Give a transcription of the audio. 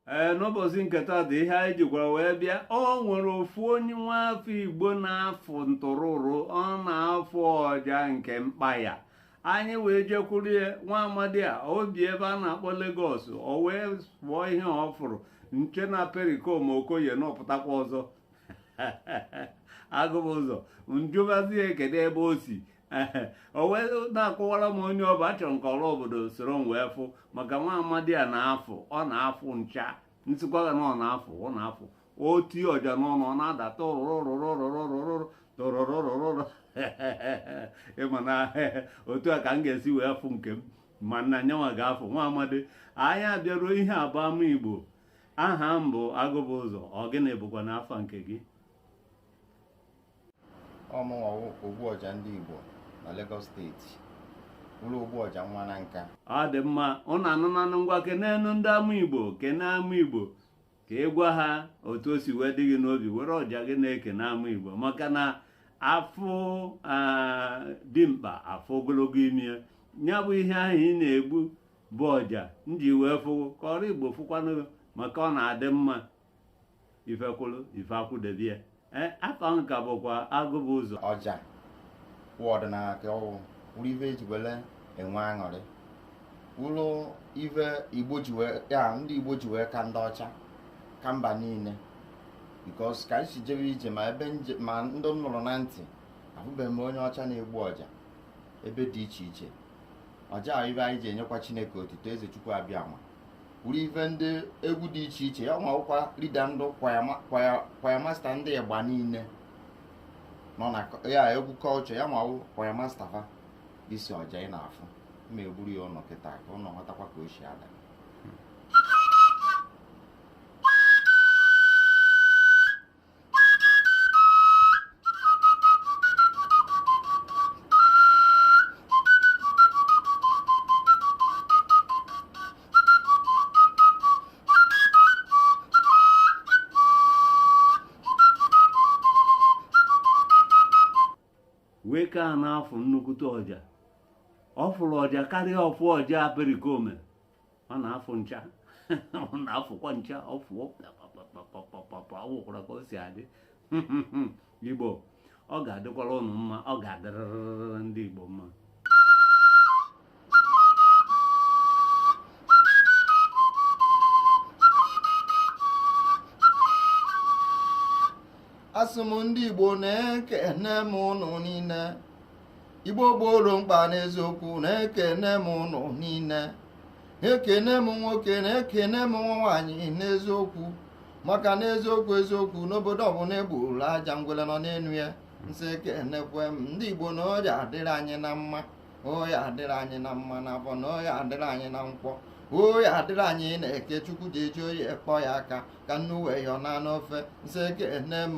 ee n'ụbọchị nke taa dị ihe anyị jikwara wee bịa o nwere ofu onye nwa afọ igbo na-afụ ntụrụrụ ọ na-afụ ọja nke mkpa ya anyị wee jekwuru ya nwa amadi a o bi ebe a na-akpọ Lagos o wee fụọ ihe ọ fụrụ m chee na Pericoma Okoye na ọ pụtakwa ọzọ Agụbụzọ m jụbazie kedu ebe o si o wee na-akọwara m onye ọ bụ achọrọ m ka ọra obodo soro m wee fụ maka nwa amadi a na-afụ ọ na-afụ ncha m sịkwa gị na ọ na-afụ ọ na-afụ o tie ọja n'ọnụ ọ na-ada tụrụrụrụrụrụrụrụrụ tụrụrụrụrụrụ ị ma na otu a ka m ga-esi wee fụ nke m mana ya nwa ga-afụ nwa amadi anyị abịaruo ihe a bụ ama igbo aha m bụ Agụbụzọ ọ gịnị bụkwanụ afa nke gị ọ mụnwa wụ ogbu ọja ndị Igbo na Lagos State wụlụ ogbu ọja nwa Nanka ọ dị mma ụnụ anụnanụ ngwa kenenu ndị ama Igbo kene ama Igbo ka ị gwa ha otu o si wee dị gị n'obi were ọja gị na-ekene ama Igbo maka na a fụ dimkpa a fụ ogologo imi ya nya bụ ihe ahụ ị na-egbu bụ ọja m ji wee fụ gị ka ọra Igbo fụkwanụ maka ọ na-adị mma ife kwụlụ ife akwụdebie ee afa m ka bụkwa Agụbụzọ ọja wụ ọdịnala ka ọ wụ wụrụ ife e ji wele enwe aṅụrị wụrụ ife igbo ji wee ya ndị igbo ji wee ka ndị ọcha ka mba niile because ka anyị si jebe ije ma ebe m je ma ndị m nụrụ na ntị ahụbeghị m onye ọcha na-egbu ọja ebe dị iche iche ọja ife anyị ji enyekwa chineke otito eze chukwu abịama wụrụ ife ndị egwu dị iche iche ya nwa wụkwa leader ndị choir master ndị ịgba niile nọ na ya egwu culture ya nwa wụ choir master fa isi ọja ị na-afụ ma egburu ya ụnụ kịta ka ụnụ ghọtakwa ka o si ada wee ka a na-afụ nnukwute ọja ọ fụrụ ọja karịa ọfụ ọja Pericoma ọ na-afụ ncha ọ na-afụkwa ncha ọ fụọ ọ wụkwara ka o si adị igbo ọ ga-adịkwara ụnụ mma ọ ga-adịrịrị ndị igbo mma asị m ndị igbo na ekene m ụnụ niile igbo gboro mkpa n'eziokwu na-ekene m ụnụ niile ekene m nwoke na ekene m nwaanyị n'eziokwu maka na eziokwu eziokwu n'obodo ọbụla egburu aja ngwele nọ n'enu ya m sị ekenekwe m ndị igbo na ọ ya-adịrị anyị na mma ọ ya-adịrị anyị na mma n'afọ na ọ ya-adịrị anyị na nkwọ ọ ya-adịrị anyị n'eke chukwu ji eji oyi ekpọ ya aka ka nnu wee yọọ na n'ofe m sị ekene m